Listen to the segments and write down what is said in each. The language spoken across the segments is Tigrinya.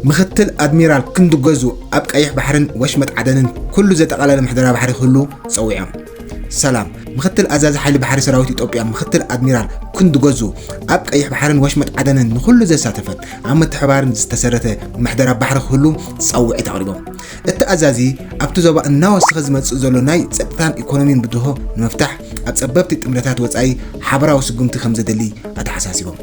ምክትል ኣድሚራል ክንዱ ገዙ ኣብ ቀይሕ ባሕርን ወሽመጥ ዓደንን ኩሉ ዘጠቓለለ ምሕደራ ባሕሪ ክህሉ ጸዊዖም። ሰላም ምክትል ኣዛዚ ሓይሊ ባሕሪ ሰራዊት ኢትዮጵያ ምክትል ኣድሚራል ክንዱ ገዙ ኣብ ቀይሕ ባሕርን ወሽመጥ ዓደንን ንኹሉ ዘሳተፈ ኣብ ምትሕባርን ዝተሰረተ ምሕደራ ባሕሪ ክህሉ ፃውዒት ኣቕሪቦም እቲ ኣዛዚ ኣብቲ ዞባ እናወሰኸ ዝመፅእ ዘሎ ናይ ፀጥታን ኢኮኖሚን ብድሆ ንምፍታሕ ኣብ ፀበብቲ ጥምረታት ወፃኢ ሓበራዊ ስጉምቲ ከም ዘድሊ ኣተሓሳሲቦም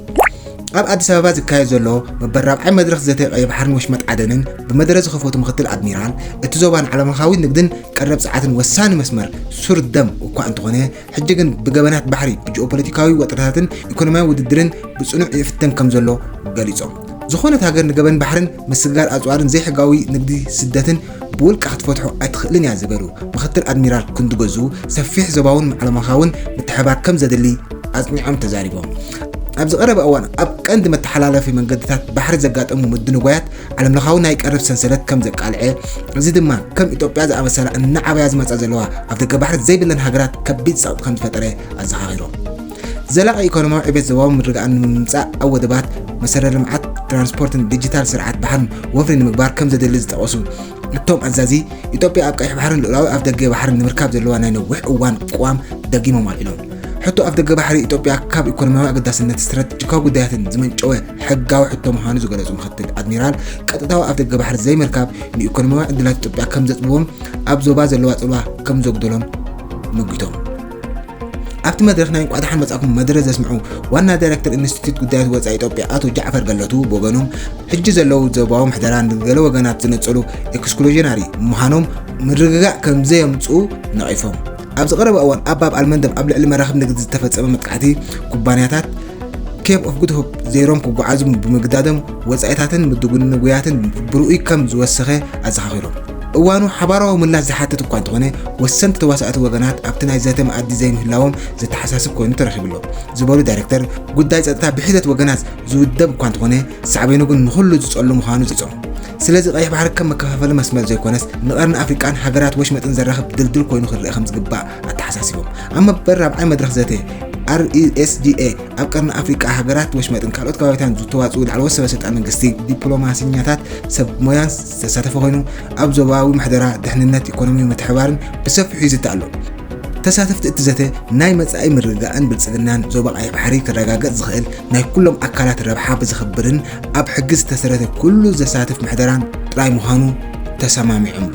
ኣብ ኣዲስ ኣበባ ዝካየድ ዘሎ መበል ራብዓይ መድረኽ ዘተ ቀይ ባሕርን ወሽመጥ ዓደንን ብመደረ ዝኸፈቱ ምክትል ኣድሚራል እቲ ዞባ ንዓለምለኻዊ ንግድን ቀረብ ፀዓትን ወሳኒ መስመር ሱር ደም እኳ እንተኾነ ሕጂ ግን ብገበናት ባሕሪ ብጂኦፖለቲካዊ ወጥረታትን ኢኮኖሚያዊ ውድድርን ብፅኑዕ ይፍተን ከም ዘሎ ገሊፆም ዝኾነት ሃገር ንገበን ባሕርን ምስግጋር ኣፅዋርን ዘይሕጋዊ ንግዲ ስደትን ብውልቃ ክትፈትሖ ኣይትኽእልን እያ ዝበሉ ምክትል ኣድሚራል ክንዱ ገዙ፣ ሰፊሕ ዞባውን ዓለምለኻውን ምትሕብባር ከም ዘድሊ ኣፅኒዖም ተዛሪቦም። ኣብዚ ቀረባ እዋን ኣብ ቀንዲ መተሓላለፊ መንገድታት ባሕሪ ዘጋጠሙ ምድንጓያት ዓለምለኻዊ ናይ ቀረብ ሰንሰለት ከም ዘቃልዐ፣ እዚ ድማ ከም ኢትዮጵያ ዝኣመሰላ እናዓበያ ዝመፃ ዘለዋ ኣፍደገ ባሕሪ ዘይብለን ሃገራት ከቢድ ፀቕጢ ከም ዝፈጠረ ኣዘኻኺሮም። ዘላቒ ኢኮኖሚያዊ ዕቤት ዞባዊ ምርግጋእን ንምምፃእ ኣብ ወደባት፣ መሰረተ ልምዓት ትራንስፖርትን ዲጂታል ስርዓት ባሕርን ወፍሪ ንምግባር ከምዘድሊ ዝጠቐሱ እቶም ኣዛዚ፣ ኢትዮጵያ ኣብ ቀይሕ ባሕርን ልኡላዊ ኣፍደገ ባሕርን ንምርካብ ዘለዋ ናይ ነዊሕ እዋን ቅዋም ደጊሞም ኣልዒሎም። ሕቶ ኣፍደገ ባሕሪ ኢትዮጵያ ካብ ኢኮኖሚያዊ ኣገዳስነት፣ ስትራቴጂካዊ ጉዳያትን ዝመንጨወ ሕጋዊ ሕቶ ምዃኑ ዝገለፁ ምክትል ኣድሚራል፣ ቀጥታዊ ኣፍደገ ባሕሪ ዘይምርካብ ንኢኮኖሚያዊ ዕድላት ኢትዮጵያ ከምዘፅብቦን ኣብ ዞባ ዘለዋ ፅልዋ ከምዘጉደሎን ሞጊቶም። ኣብቲ መድረኽ ናይ እንቋዕ ደሓን መጻእኩም መደረ ዘስምዑ ዋና ዳይረክተር ኢንስቲትዩት ጉዳያት ወፃኢ ኢትዮጵያ ኣቶ ጃዕፈር ገለቱ ብወገኖም ሕጂ ዘለዉ ዞባዊ ምሕደራ ንገለ ወገናት ዝነፀሉ ኤክስክሉዥናሪ ምዃኖም ምርግጋእ ከም ዘየምፅኡ ነቒፎም ኣብዚ ቀረባ እዋን ኣብ ባብ ኣልመንደብ ኣብ ልዕሊ መራኽብ ንግዲ ዝተፈፀመ መጥቃዕቲ ኩባንያታት ኬፕ ኦፍ ጉድ ሆፕ ዘይሮም ክጓዓዙ ብምግዳዶም ወፃኢታትን ምድጉንጉያትን ብርኡይ ከም ዝወሰኸ ኣዘኻኺሮም እዋኑ ሓባራዊ ምላሽ ዝሓትት እኳ እንተኾነ ወሰንቲ ተዋሳእቲ ወገናት ኣብቲ ናይ ዘተ መኣዲ ዘይምህላዎም ዘተሓሳስብ ኮይኑ ተረኺቡ'ሎ ዝበሉ ዳይሬክተር፣ ጉዳይ ፀጥታ ብሒደት ወገናት ዝውደብ እኳ እንተኾነ ሳዕቤኑ ግን ንኹሉ ዝፀሉ ምዃኑ ፀፂዖም። ስለዚ ቀይሕ ባሕሪ ከም መከፋፈሊ መስመር ዘይኮነስ ንቀርኒ ኣፍሪቃን ሃገራት ወሽመጥን ዘራኽብ ድልድል ኮይኑ ክርኣ ከምዝግባእ ኣተሓሳሲቦም። ኣብ መበል ራብዓይ መድረኽ ዘተ RESDA ኣብ ቀርኒ ኣፍሪቃ ሃገራት ወሽመጥን ካልኦት ከባቢታትን ዝተዋፅኡ ላዕለዎት ሰበ ስልጣን መንግስቲ፣ ዲፕሎማሲኛታት፣ ሰብ ሞያን ዝተሳተፈ ኮይኑ ኣብ ዞባዊ ምሕደራ፣ ድሕንነት፣ ኢኮኖሚዊ ምትሕብባርን ብሰፊሑ ይዝቲ ኣሎ። ተሳተፍቲ እቲ ዘተ ናይ መፃኢ ምርግጋእን ብልፅግናን ዞባ ቀይሕ ባሕሪ ክረጋገፅ ዝኽእል ናይ ኩሎም ኣካላት ረብሓ ብዘኽብርን ኣብ ሕጊ ዝተሰረተ ኩሉ ዘሳትፍ ምሕደራን ጥራይ ምዃኑ ተሰማሚዖምሉ።